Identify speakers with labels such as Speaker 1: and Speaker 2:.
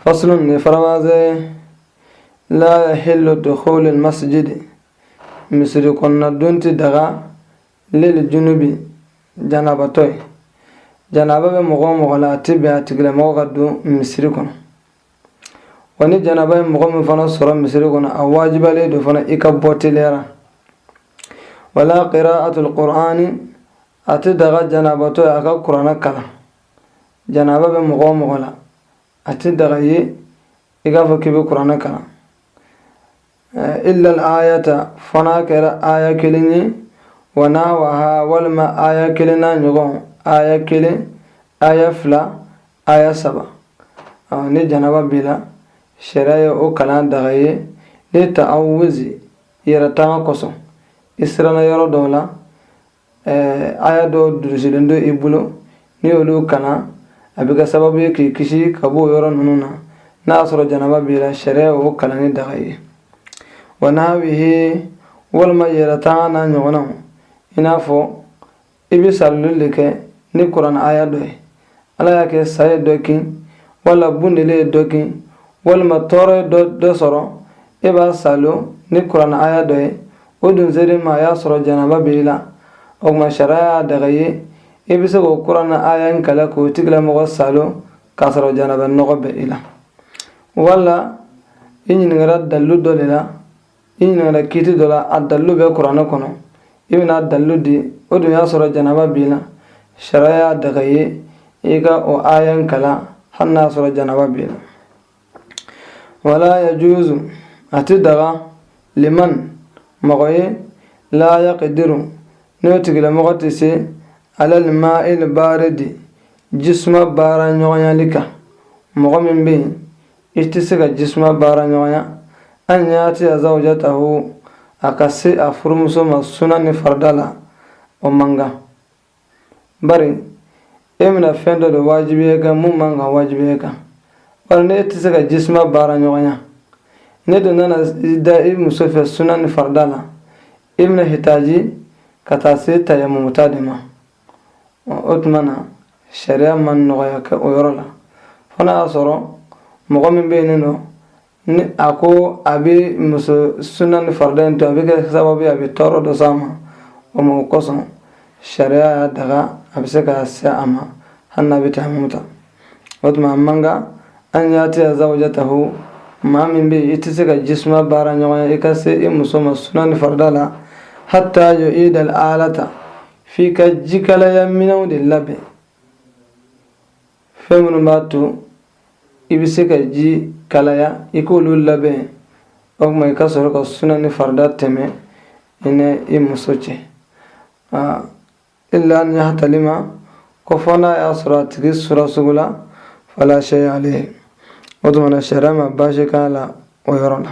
Speaker 1: Faslun nin faranfasi ye la yahillu dukhulul masjidi misiri kɔnɔna don ti daga liljunubi janabatɔ ye janaba bɛ mɔgɔ o mɔgɔ la a ti bɛn a tigilamɔgɔ ka don misiri kɔnɔ wa ni janaba ye mɔgɔ min fana sɔrɔ misiri kɔnɔ a wajibiyalen don fana i ka bɔ teliya la wala qira'atul qur'ani a ti daga janabatɔ ye a ka kuranɛ kalan janaaba bɛ mɔgɔ o mɔgɔ la a tɛ daga i ye i k'a fɔ k'i bɛ kuranɛ kalan illal ayata fo n'a kɛra aya kelen ye wa nahwaha walima aya kelen n'a ɲɔgɔn aya kelen aya fila aya saba ni janaba b'i la sariya ye o kalan daga i ye lita'awuzi yɛrɛ tanga kosɔn i siranna yɔrɔ dɔw la ɛɛ aya dɔw durusilen don i bolo n'i y'olu kalan a bɛ kɛ sababu ye k'i kisi ka bɔ o yɔrɔ ninnu na n'a y'a sɔrɔ janaba b'i la sariya y'o kalanni daga i ye wa nahwihi walima yɛrɛtanga n'a ɲɔgɔnnaw i n'a fɔ i bɛ saaloli de kɛ ni kuranɛ aya dɔ ye ala y'a kɛ sa ye dɔ kin wala bundele ye dɔ kin walima tɔɔrɔ ye dɔ sɔrɔ e b'a saalo ni kuranɛ aya dɔ ye o dun sera i ma a y'a sɔrɔ janaba b'i la o tuma sariya y'a daga i ye i bɛ se k'o kuranɛ aya in kalan k'o tigilamɔgɔ saalo k'a sɔrɔ janaba nɔgɔ bɛ i la wala i ɲininkara dalilu dɔ de la i ɲininkala kiiti dɔ la a dalilu bɛ kuranɛ kɔnɔ i bɛna a dalilu di o dun y'a sɔrɔ janaba b'i la sariya y'a daga i ye i ka o aya in kalan hali n'a sɔrɔ janaba b'i la wala yajuzu a ti daga liman mɔgɔ ye la yaqidiru n'o tigilamɔgɔ tɛ se alal ma'il baridi ji suma baara ɲɔgɔnyali kan mɔgɔ min bɛ yen i tɛ se ka ji suma baara ɲɔgɔnya an yati zawjatahu a ka se a furumuso ma suna ni farida la o man kan bari e bɛna fɛn dɔ de wajibiya kan mun man kan wajibiya kan bari n'i tɛ se ka ji suma baara ɲɔgɔnya n'i dun nana da i muso fɛ suna ni farida la i bɛna hitaji ka taa se tayamumu ta de ma o tuma na sariya ma nɔgɔya kɛ o yɔrɔ la fo n'a y'a sɔrɔ mɔgɔ min bɛ yen nɔ ni a ko a bɛ muso sunan ni farida in to a bɛ kɛ sababu ye a bɛ tɔɔrɔ dɔ s'a ma o ma o kosɔn sariya y'a daga a bɛ se ka se a ma hali n'a bɛ tayamumu ta o tuma a man kan an yati zawjatahu maa min bɛ yen i tɛ se ka ji suma baara ɲɔgɔnya i ka se i muso ma sunan ni farida la hata yu'idal alata f'i ka jikalaya minɛnw de labɛn fɛn minnu b'a to i bɛ se ka ji kalaya i k'olu labɛn o tuma i ka sɔrɔ ka suna ni farida tɛmɛ i ni i muso cɛ illa an yahtalima ko fɔ n'a y'a sɔrɔ a tigi sura sugo la fala shay alayhi o tuma na sariya ma baasi k'a la o yɔrɔ la